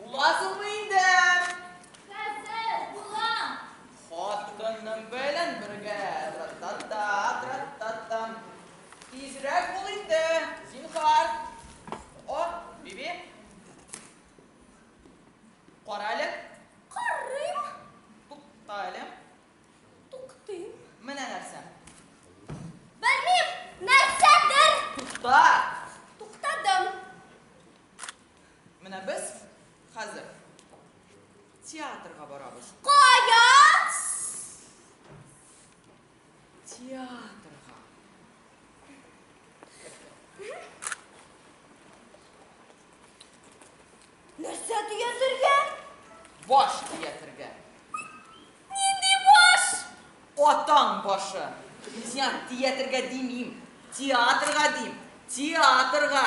Буласыңмы инде? Хәзер булам! Хатының белән бергә тра-та-та, тра-та-та. Тизрәк бул инде, зинһар. О, Биби. Кара әле. Карыйм. Тукта әле. Туктыйм. Менә нәрсә. Белмим, нәрсәдер. Тукта! Менә без хәзер театрга барабыз. Кая? Театрга. Нәрсә төятергә? Баш төятергә. Нинди баш? Атаң башы. Мин театрга димим. Театрга дим. Театрга.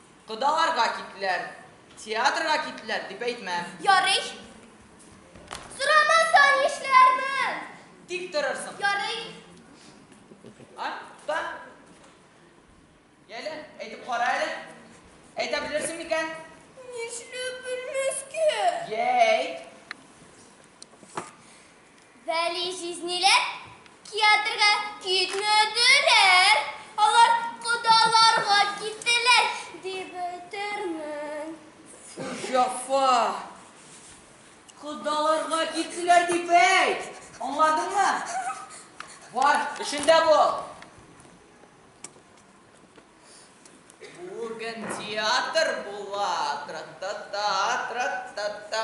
Кодаларга киттеләр, театрга киттеләр, дип әйтмәм. Ярый. Сорамаса нишләрмен? Тик торырсың. Ярый. А, та. Яле, әйтеп кара әле. Әйтә белерсең микән? Нишләп белмәскә? Йә, әйт. Вәли җизниләр киатрга китмөдерәр, алар кодаларга киттеләр дип бетермен. Җафа. Кодаларга киттеләр дип әйт, аңладыңмы? Бар, эшендә бул. Бүген театр була, тра-та-та, тра-та-та.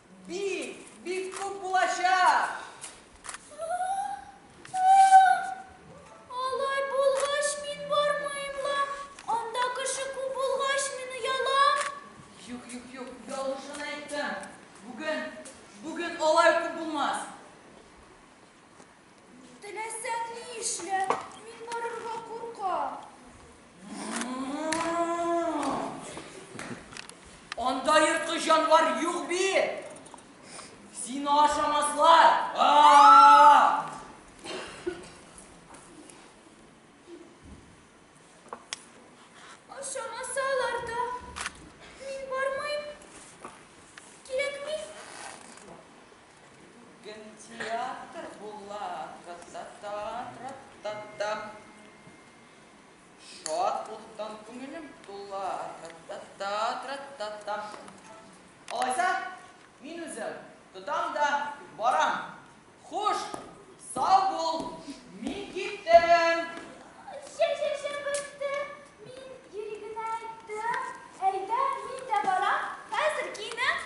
Бик, бик күп булачак! Алай булгач, мин бармыйм ла. Анда кеше күп булгач, мин оялам. Юк, юк, юк, ялгышын әйттең. Бүген, бүген алай күп булмас. Теләсәң ни эшлә, мин барырга куркам. Анда ерткыч җанвар юк бит. Сине ашамаслар. Ашамасалар да, мин бармыйм. Кирәкми. Бүген театр була, тра-та-та, тра-та-та. Шатлыктан күңелем тула, тра-та-та, тра-та-та. Алайса, мин үзем тотам да барам. Хуш, сау бул, мин киттем! Чә-чә-чә бетте, мин йөри генә әйттем. Әйдә, мин дә барам, хәзер киенәм.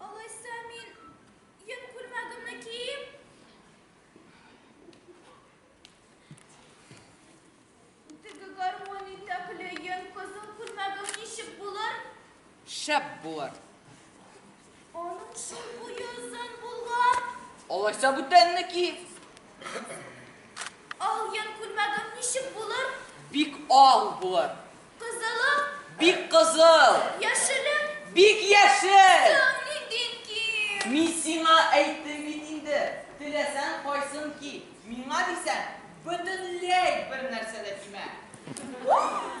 Алайса мин йөк күлмәгемне киеп, теге гармон итәкле йөн кызыл күлмәгем ничек булыр? Шәп булыр. Аның шул буе озын булган. Алайса бүтәнне ки. Ал йөн күлмәгем ничек булыр? Бик ал булыр. Кызылы. Бик кызыл. Яшеле. Бик яшел. Тын ниндин ки? Мин сиңа әйттем бит инде, теләсәң кайсын ки, миңа дисәң, бөтенләй бернәрсә дә кимә. Уф!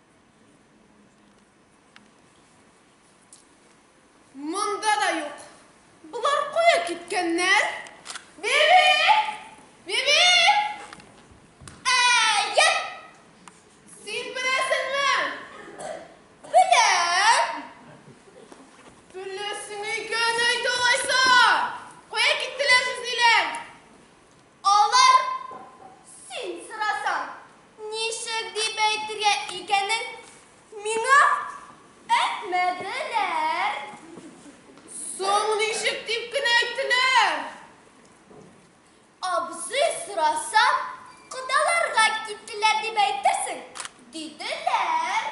Монда да юк. Болар кая киткәннәр? Биби! Биби! Әйе! Син беләсеңме? Беләм. Беләсең икән әйт алайса. Кая киттеләр сүзлиләр? Алар, син сорасаң, ничек дип әйтергә икәнен миңа әйтмәделәр. Соң ничек дип кенә әйттеләр? Абзый сораса, кодаларга киттеләр дип әйтерсең, диделәр.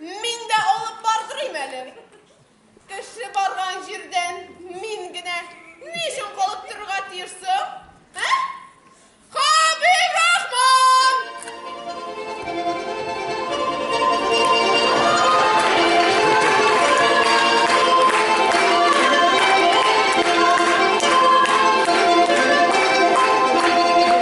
Мин дә алып бардырыйм әле. Кеше барган җирдән мин генә ни өчен калып торырга тиешсең?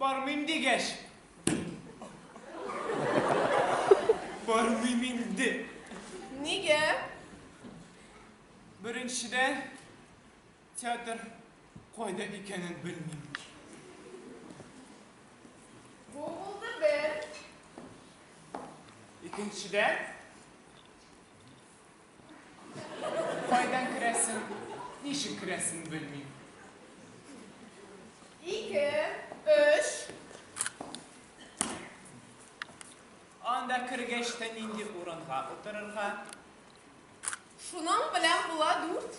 Бармыйм дигәч. Бармыйм инде. Нигә? Беренчедән, театр кайда икәнен белмим. Бу булды бер. Икенчедән, Кайдан керәсен, ничек керәсен белмим. Ике, өч. Анда кергәч тә нинди урынга утырырга? Шуның белән була дүрт.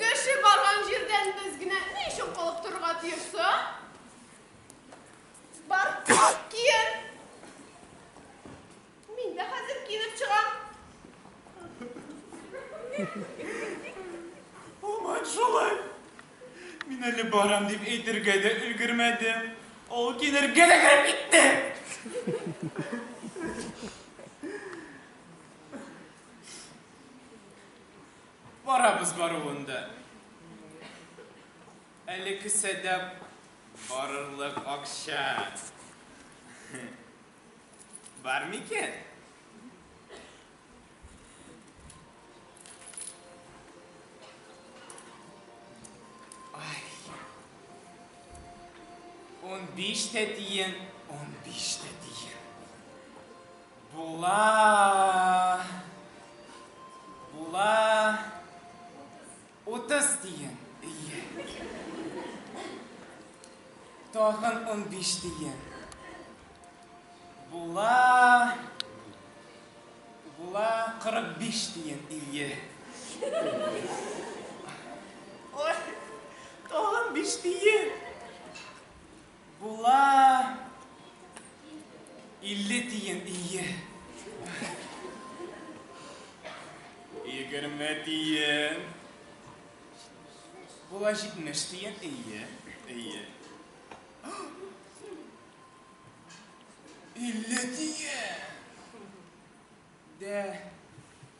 Кеше барган җирдән без генә ни өчен калып торырга тиеш соң? Бар, киен. Мин дә хәзер киенеп чыгам. Һаман шулай. Мин әле барам дип әйтергә дә өлгермәдем, ул киенергә дә кереп китте. Барабыз баруын да. Әле кесәдә барырлык акча бар микән? Унбиш тә тиен, унбиш тә тиен. Була! Була! Утыз тиен! Ие! Тагын унбиш тиен! Була! Була! Кырык биш тиен! Ие! Ой! Тагын биш тиен! Була илле тиен, ие. Егерме тиен. Була җитмеш тиен, ие, ие. Илле тиен. Дә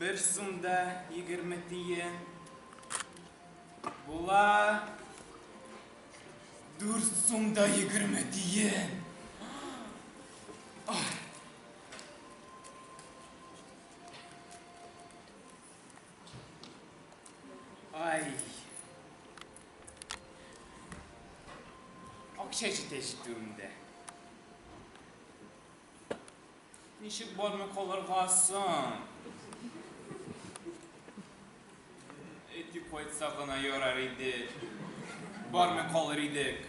Бер сум да егерме тиен. Була дүрт сум да егерме тиен. Ай. Акча җитә җитүемдә. Ничек бармый калырга соң? Әйтеп кайтса гына ярар иде. Бармый калыр идек.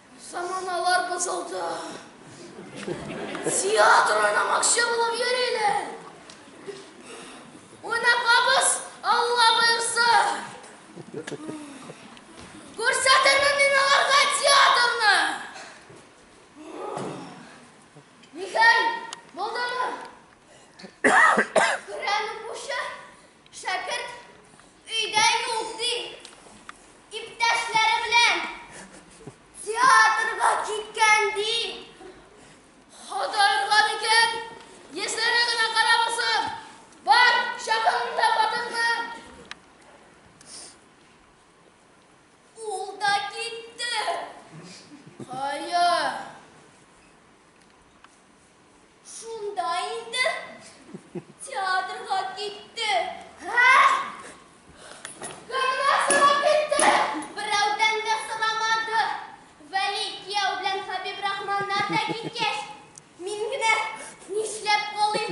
Заманалар бозылды. Театр уйнамакчы булып йөриләр. Уйнатабыз, Алла боерса. Күрсәтермен мин аларга театрны. Нихәл, булдымы? Күрәм укучы, Шәкерт өйдә юк, ди. Иптәшләре белән театрга киткән, ди. Ходай урган икән, йөзләре генә карамасын. Бар, чакыр монда хатынны. Ул да китте. Кая? Шунда инде театрга китте. Кемнән сорап китте? Берәүдән дә сорамады. Вәли кияү белән Хәбибрахманнар да киткәч, мин генә нишләп калыйм?